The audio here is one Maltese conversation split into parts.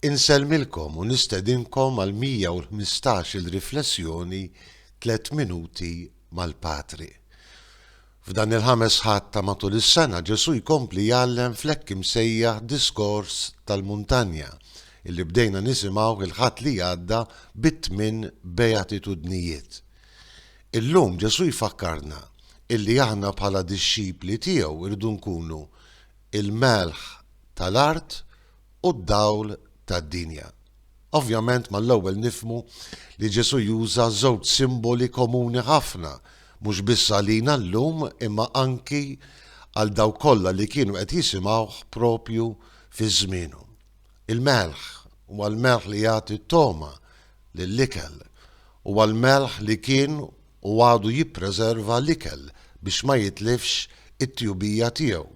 Insellmilkom u nistedinkom għal 115 il riflessjoni Tliet Minuti mal-Patri. F'dan il-ħames ħadd ta' matul is-sena Ġesù jkompli jgħallem fl-hekk imsejjaħ Diskors tal-Muntanja illi bdejna nisimgħuh il-Ħadd li għadda bit-tmien Beatitudnijiet. Illum Ġesù jfakkarna illi aħna bħala dixxipli tiegħu rridu nkunu l-melħ tal-art u d-dawl tad-dinja. Ovvjament mal-ewwel nifhmu li Ġesù juża żewġ simboli komuni ħafna mhux biss għalina llum imma anki għal dawk kollha li kienu qed jisimgħuh proprju fi żmienu. Il-melħ, huwa l-melħ li jagħti t-togħma lill-ikel. Huwa l-melħ li kien u għadu jippreserva l-ikel biex ma jitlifx it-tjubija tiegħu.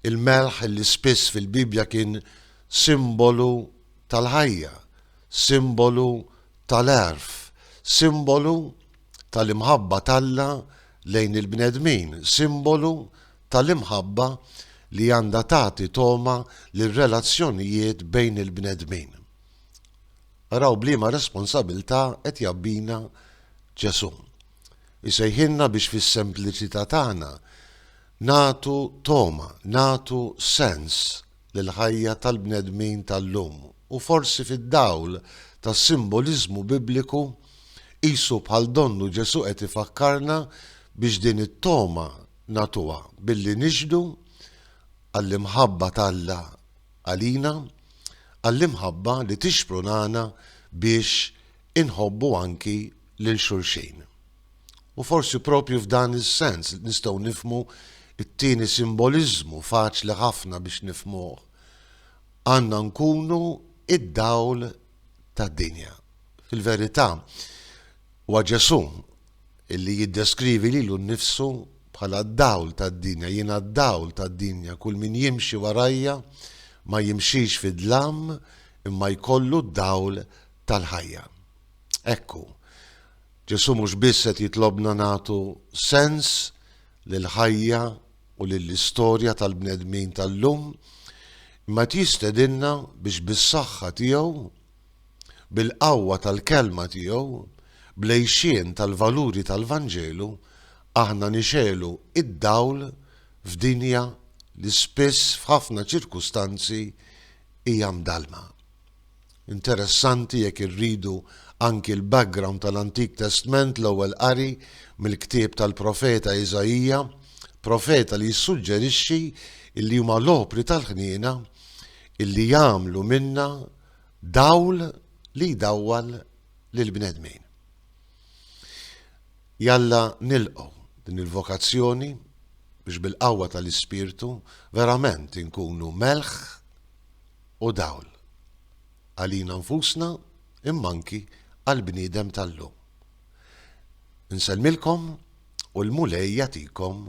Il-melħ li spiss fil-Bibbja kien simbolu tal-ħajja, simbolu tal-għerf, simbolu tal-imħabba t'Alla lejn il-bnedmin, simbolu tal-imħabba li għandha tagħti togħma lir-relazzjonijiet bejn il-bnedmin. Araw b'liema responsabilità qed jgħabbina Ġesù. Isejħilna biex fis-sempliċità tagħna nagħtu togħma, nagħtu sens lill-ħajja tal-bnedmin tal-lum u forsi fid-dawl tas-simboliżmu Bibliku qisu bħal donnu Ġesù qed ifakkarna biex din it-togħma nagħtuha billi nixhdu għall-imħabba t'Alla għalina, għall-imħabba li tixprunana biex inħobbu anki lil xulxin. U forsi propju f'dan is-sens nistgħu nifmu t-tieni simboliżmu faċli ħafna biex nifmuh. Għandna nkunu id-dawl tad-dinja. Fil-verità, wa Ġesù illi jiddeskrivi lilu nnifsu bħala d-dawl tad-dinja, jiena d-dawl tad-dinja, kull min jimxi warajja ma jimxix fid-dlam imma jkollu d-dawl tal-ħajja. Hekk hu. Ġesù mhux biss qed jitlobna nagħtu sens lill-ħajja u lill-istorja tal-bnedmin tal-lum, imma qed jistedinna biex bis-saħħa tiegħu Bil-qawwa tal-Kelma tiegħu, bl-għixien tal-valuri tal-Vanġelu, aħna nixegħlu d-dawl f'dinja li spiss f'ħafna ċirkustanzi hija mdallma. Interessanti jekk irridu anki l-background tal-Antik Testment l-ewwel qari mill-ktieb tal-profeta Iżaija, profeta li jissuġġerixxi li huma l-opri tal-ħniena li jagħmlu minna Dawl li jdawwal lill-bnedmin. Jalla nilqgħu din il-vokazzjoni biex bil-qawwa tal-Ispirtu verament inkunu melħ u dawl għalina nfusna imma anki għall-bniedem tal-lum. Insellmilkom u l-Mulej jagħtikom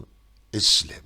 is-sliem.